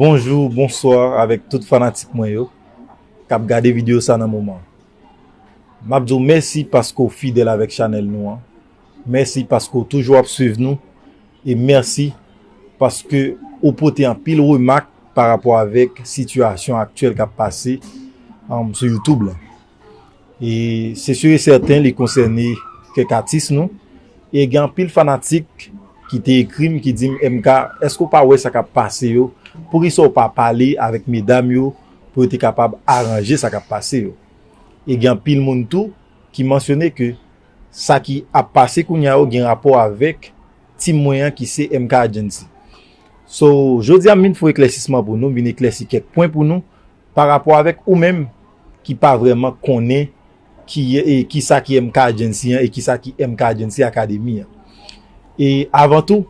Bonjou, bonswa avèk tout fanatik mwen yo kap gade video sa nan moman. Map di w mèsi paske w fidèl avèk chanèl nou an, mèsi paske w toujou ap swiv nou e mèsi paske ou pote anpil remak parapò avèk sitiyasyon aktyèl kap pase sou youtube lan. E se sur e sèten li konsène kèk atis nou. E gen anpil fanatik ki te ekri m ki di m MK, èske ou pa wè sa k ap pase yo? Poukisa ou pa pale avèk medam yo pou yo te kapab aranje sa k ap pase yo? E gen anpil moun tou ki mansyone ke sa ki ap pase kounya yo gen rapò avèk team mwen an ki se MK Agency. So, jodi a m vin fè yon eklèsisman pou nou, m vin eklèsi kèk pwen pou nou. Pa rapò avèk ou menm ki pa vrèman konnen ki sa ki MK Agency an e ki sa ki MK Agency Academy an. E avan tou,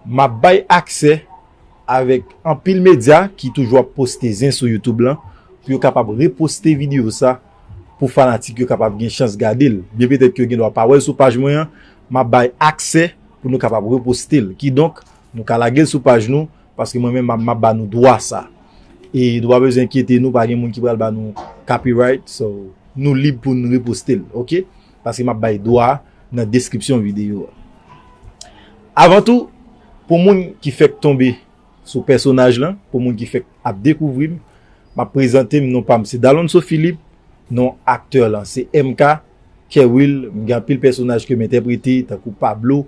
m ap bay aksè avèk anpil medya ki toujou ap poste zen sou YouTube lan pou yo kapab reposte videyo sa pou fanatik yo kapab gen chans gade l. Byen petèt ke yo gen dwa pa wè l sou paj mwen an, m ap bay aksè pou nou kapab reposte l. Kidonk, nou ka lage l sou paj nou. Paske mwen menm map ba nou dwa sa. E nou pa bezwen enkyete nou, pa gen moun ki pral ba nou copyright. So, nou lib pou nou reposte l. Ok? Paske map bay dwa nan deskripsyon videyo a. Avan tou, pou moun ki fèk tonbe sou pèsonaj lan, pou moun ki fèk ap dekouvri m, map prezante m, non pa m se Dalonso Philippe, non aktè lan se MK. Kerwill m gen anpil pèsonaj kem entèprete tankou Pablo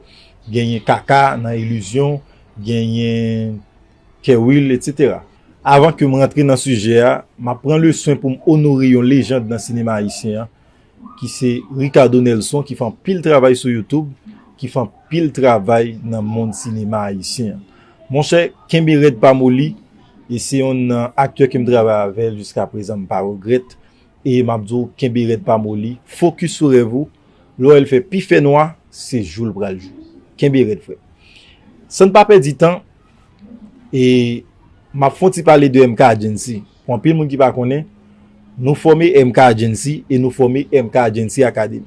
genyen Kaka nan Illusion genyen Kerwill etc. Avan kem rantre nan sijè a map pran le swen poum onore yon lejand nan sinema ayisyen an ki se Ricardo Nelson ki fè anpil travay sou YouTube ki fè anpil travay nan mond sinema ayisyen an monchè kenbe rèd pa moli e se yonn nan aktè kem travay avèl jiskaprezan m pa regrèt E map di w kenbe rèd pa moli, focus sou rèv ou, lò el fè pi fè nwa se jou l pral jou. Kenbe rèd frè. San n pa pèdi tan e map fon ti pale de MK Agency pou anpil moun ki pa konnen, nou fòme MK Agency e nou fòme MK Agency Academy.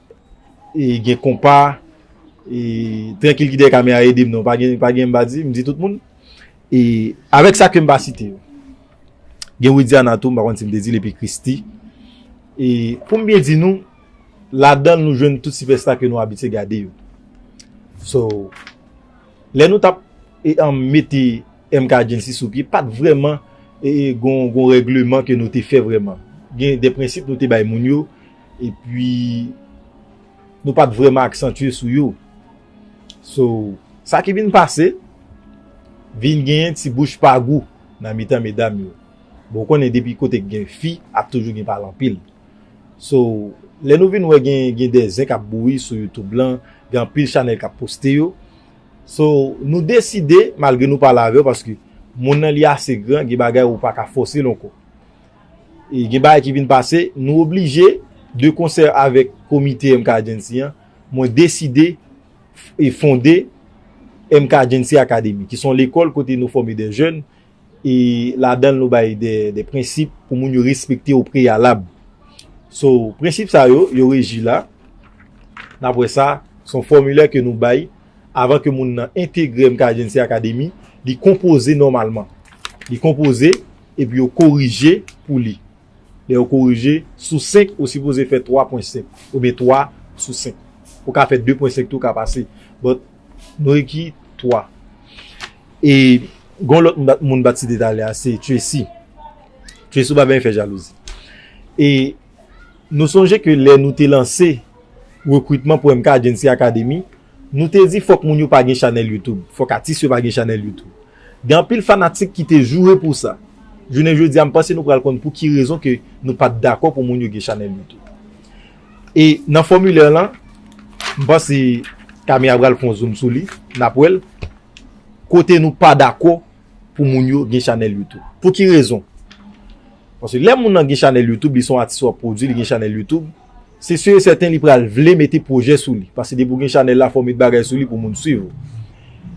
gen konpa e trankil ki dèyè kamera ede m non pa gen pa gen m pa di m di tout moun e avèk sa ke m pa site yo gen widiana tou m pa konn si m te di l epi christi e pou m byen di nou ladan l nou jwenn tout sipèsta ke nou abitye gade yo so lè nou tap e an mete MK Agency sou pye pat vreman e gon gon regleman ke nou te fè vreman gen de prensip nou te bay moun yo Epi nou pat vrèman aksantye sou yo. So, sa ki vin pase, vin gen yon ti bouch pa gou nan mitan medam yo. Bon, ou konnen depi kote gen fi, ap toujou gen pale anpil. So, lè nou vin wè gen gen de zen kap bouyi sou YouTube lan, gen anpil chanèl kap poste yo. So, nou deside, malgre nou pale avè yo, paske moun nan li ase gran, gen bagay ou paka fòse l ankò. Gen bagay ki vin pase, nou oblije, de konsè avèk komite MK Agency an, mwen deside e fonde MK Agency Academy, ki son lekòl kote nou fòme de jèn, e ladan l nou bay de prensip pou moun yo respekte o preyalab. So, prensip sa yo, yo reji la, n ap wè sa, son fòmilè ke nou bay, avan ke moun nan entegre MK Agency Academy, li konpoze nòmalman. Li konpoze. Epi yo korije pou li. Lè yo korije, sou 5, ou sipoze fè 3 pwen 5. Oubyen 3 sou 5. Ou ka fè 2 pwen 5 tou ka pase. But, nou ekri 3. E, gon lòt moun m pa t site talè a, se Tracy. Tracy ou pa benyen fè jalouzi. E, nou sonje ke lè nou te lanse rekrutman pou MK Agency Academy, nou te di fòk moun yo pa gen chanèl YouTube. Fòk atis yo pa gen chanèl YouTube. Gen anpil fanatik ki te joure pou sa. Jounen jodi a m panse nou pral konn pou ki rezon ke nou pat dakò pou moun yo gen chanèl YouTube. E nan fòmilè lan, m panse Camera pral fon zoom sou li, n ap wè l, kote nou pa dakò pou moun yo gen chanèl YouTube. Pou ki rezon? Paske lè moun lan gen chanèl YouTube, li son atis w ap pwodui, li gen chanèl YouTube, Se sur et certain li pral vle mete projè sou li paske depi ou gen chanèl la fò ou met bagay sou li pou moun swiv ou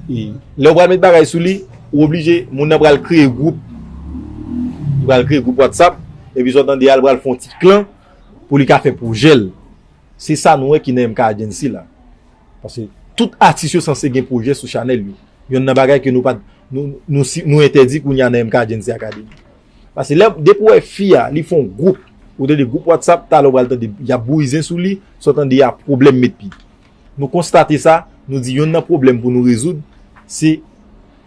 e lè ou pral met bagay sou li ou oblije moun nan pral kreye gwoup li pral kreye gwoup whatsapp epi sa ou tande a li pral fè yon ti klan pou li ka fè projè l se sa nou wè ki nan MK Agency la paske tout atis yo sanse gen projè sou chanèl yo yonn nan bagay ke nou pa nou entèdi kounya nan MK Agency Academy. Pase lè depi ou wè fi a li fon group ou tande group WhatsApp talè ou pral tande yap bouyizen sou li sa w tande a pwoblèm met pi nou konstate sa nou di yonn nan pwoblèm pou nou rezoud se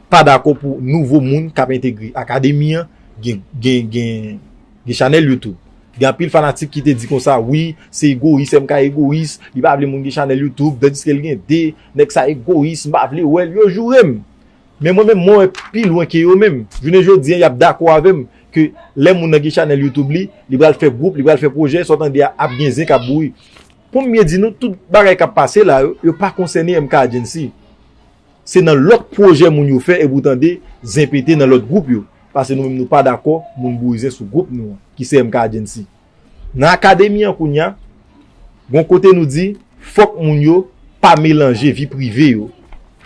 pa dakò pou nouvo moun kap entegre akademi an gen gen gen chanèl YouTube gen anpil fanatik ki te di konsa wi se egoyis MK egoyis li pa vle moun gen chanèl YouTube tandiske l gen 2 nèg sa egoyis m pa vle wè l yo joure m. Men mwen menm mwen wè pi lwen ke yo menm. Jounen jodi an yap dakò avè m ke lè moun nan gen chanèl YouTube li, li pral fè gwoup, li pral fè pwojè, sa w tande a ap gen zen kap bouyi. Pou m byen di nou, tout bagay kap pase la yo, yo pa konsène MK Agency. Se nan lòt pwojè moun yo fè epi ou tande zen pete nan lòt gwoup yo. Pase nou menm nou pa dakò moun bouyi zen sou gwoup nou an ki se MK Agency. Nan akademi an kounya, gon kote nou di fòk moun yo pa melanje vi prive yo,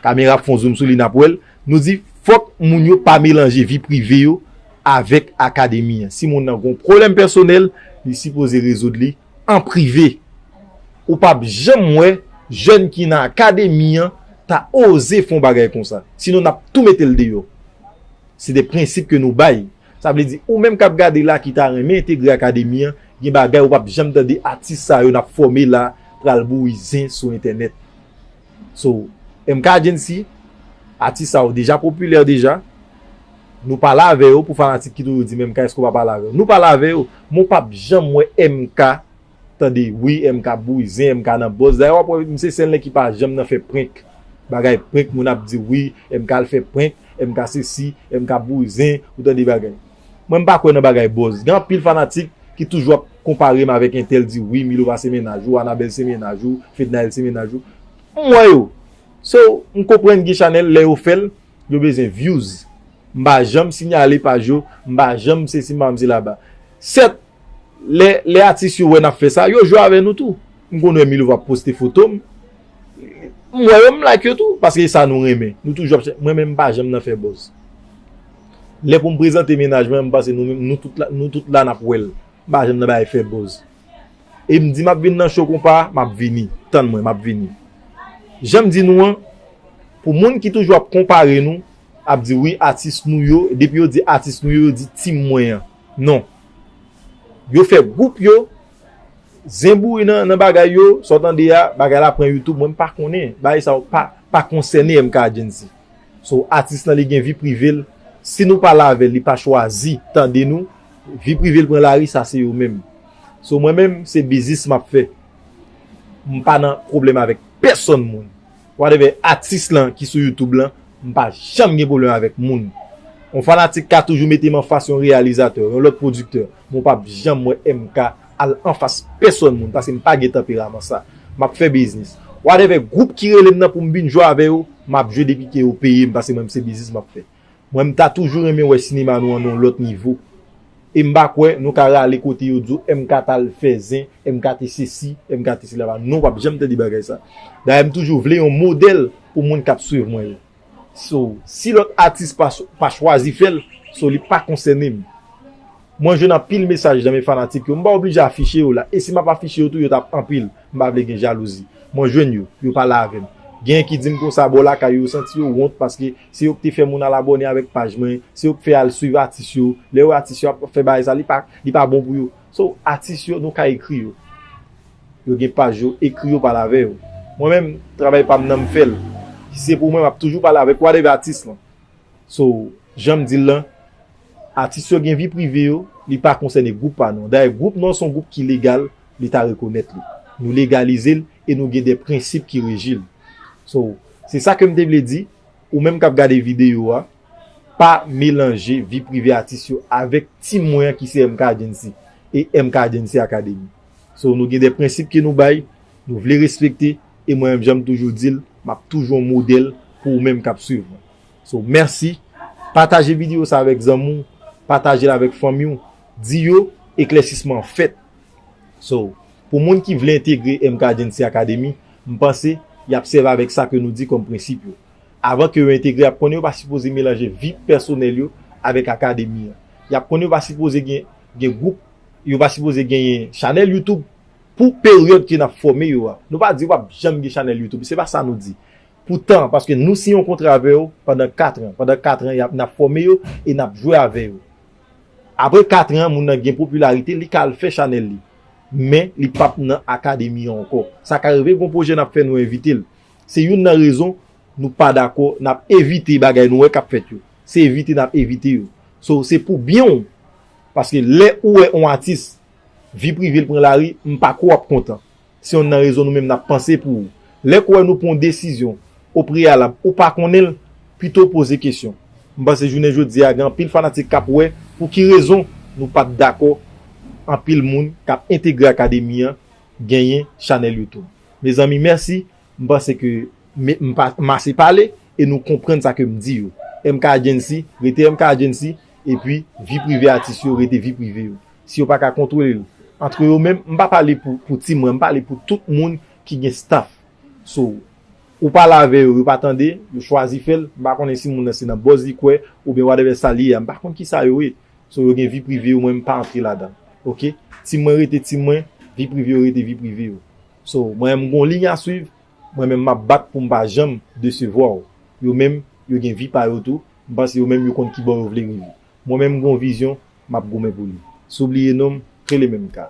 kamera ap fon zoum sou li nap wèl, nou di fòk moun yo pa melanje vi prive yo avèk akademi an. Si moun nan gon pwoblèm pèsonèl, li sipoze rezoud li an prive. Ou pap janm wè jèn ki nan akademi an ta oze fon bagay konsa. Sinon nap tou metel deyò. Se de prensip ke nou bay. Sa vle di ou menm kap gade la ki ta renmen entegre akademi an gen bagay ou pap janm tande atis sa yo nap fòme la pral bouyi zen sou entènèt so MK Agency atis sa yo deja popilè deja nou pale avè yo pou fanatik ki toujou di men MK èske ou pa pale avè yo nou pale avè yo men ou pap janm wè MK Tande ui MK bouyi zen MK nan bòz dayè wap wè misye senlè ki pa janm nan fè prenk bagay prenk moun ap di ui MK al fè prenk MK sesi MK bouyi zen ou tande bagay mwen mpa kwè nan bagay bòz gen anpil fanatik ki toujou ap konparem avèk entèl di ui milova se mennaj ou anabèl se mennaj ou fednaelle se mennaj ou m wè yo so mkonprann gen chanèl lè yo fèl yo bezwen vyouz mpa janm sinyale paj yo mpa janm sesi mpa janm se laba sèt Lè atis yo wè nap fè sa, yo jwe avè nou tou. M konn wè Milova ap poste foto m. M wè yo m like yo tou. Paske e sa nou renmen. Nou toujou ap chèche. Mwen menm m pa janm nan fè buzz. Lè pou m prezante mennaj mwen an m panse nou menm nou tout la nap wè l. M pa janm nan bagay fè buzz. E m di map vin nan show konpa a, map vini. Tann mwen map vini. Janm di nou an, pou moun ki toujou ap konpare nou, ap di wi atis nou yo, depi yo di atis nou yo, yo di team mwen an. Non. Yo fè group yo Zen bouri nan bagay yo sa w tande a bagay la pran youtube mwen m pa konnen bagay sa yo pa konsène MK Argency so atis lan li gen vi prive l si nou pale avè l li pa chwazi tande nou vi prive l pran lari sa se yo menm so mwen menm se biznis m ap fè m pa nan pwoblèm avèk pèsòn moun. Whatever atis lan ki sou youtube lan m pa janm gen pwoblèm avèk moun. Yon fanatik ka toujou mete m anfas yon reyalizatè, yon lòt pwodiktè, men w pap janm wè MK al anfas pèsòn moun paske m pa gen tanperaman sa. M ap fè biznis. Whatever gwoup ki rele m nan pou m vin jwe avè yo, m ap jwe depi ke yo peye m paske mwen m se biznis m ap fè. Mwen m ta toujou renmen wè sinema nou an nan yon lòt nivo e m pa kwè nou ka rale kote yo di w MK t al fè zen, MK te sesi, MK te sela pa non wap janm tande bagay sa dayè m toujou vle yon modèl pou moun kap swiv mwen yo so si lòt atis pa chwazi fè l so li pa konsène m mwen jwenn anpil mesaj nan men fanatik yo m pa oblije afiche yo la e si m ap afiche yo tou yo tap anpil m pa vle gen jalouzi mwen jwenn yo yo pale avè m genyen ki di m konsa bò lakay yo yo santi yo wont paske Se yo k te fè moun al abòne avèk paj mwen, se yo k fè al swiv atis yo, lè yo wè atis yo ap fè bagay sa li pa li pa bon pou yo. So atis yo nou ka ekri yo, yo gen paj yo, ekri yo pale avè yo. Mwen menm travay pam nan m fèl, si se pou mwen map toujou pale avèk whatever atis lan. So janm dil lan atis yo gen vi prive yo, li pa konsène gwoup pa nou an. Dayè gwoup nou an son gwoup ki legal, leta rekonèt li. Nou legalize l e nou gen de prensip ki reji l. So Se sa kem te vle di, ou menm kap gade video a, pa melanje vi prive atis yo avek team mwen an ki se MKDency e MKDency Academy. So nou gen de prensip ke nou bay, nou vle respekte e mwen menm janm toujou dil, map toujou yon model pou ou menm kap swiv mwen. So merci, pataje video sa avek zanmi w, patajel avek fanmi w, di yo eklèsisman an fèt. So pou moun ki vle entegre MKDency Academy, M panse, y ap sèvi avèk sa ke nou di kòm prensip yo. Avan ke yo entegre y ap konnen yo pa sipoze melanje vi pèsonèl yo avèk Akademi an. Y ap konnen yo pa sipoze gen gen gwoup, yo pa sipoze genyen chanèl YouTube pou peryòd ke n ap fòme yo a. Nou pa di pa p janm gen chanèl YouTube, se pa sa nou di. Pou tan, paske nou siyen yon kontra avè yo pandan katran. Pandan katran y ap, n ap fòme yo e n ap jwe avè yo. Apre katran, moun nan gen popilarite, li ka al fè chanèl li. men li pap nan akademi an ankò. Sa ka rive gon pwojè nap fè nou envite l. Se youn nan rezon nou pa dakò nap evite bagay nou wè kap fèt yo. Se evite nap evite yo. So se pou byen w paske lè ou wè on atis vi prive l pran lari m pako wap kontan. Se youn nan rezon nou menm nap panse pou ou. Lè kouwè nou pran yon desizyon o preyalab ou pa konnen l, pito w poze kesyon. M panse jounen jodi a gen anpil fanatik k ap wè pou ki rezon nou pa t dakò anpil moun k ap entegre akademi an genyen chanèl YouTube. Mezanmi mèsi, m panse ke m m ase pale e nou konprann sa ke m di yo. MK Agency rete MK Agency epi vi prive atis yo rete vi prive yo. Si yo pa ka kontwole l antre yo menm, m pa pale pou ti mwen, m pale pou tout moun ki gen staff so ou pale avè yo yo pa tande yo chwazi fèl m pa konnen si moun nan se nan buzz li kwè oubyen whatever sa li ye a m pa konn kisa yo ye so yo gen vi prive yo mwen m pa antre ladan ok team mwen rete team mwen vi prive yo rete vi prive yo so mwen menm m gon ligne a swiv mwen menm map bat poum pa janm desevwa w yo menm yo gen vi pa yo tou m panse yo menm yo konn kibò yo vle rive mwen menm m gon vizyon map goumen pou li si w bliye non m rele menm ka.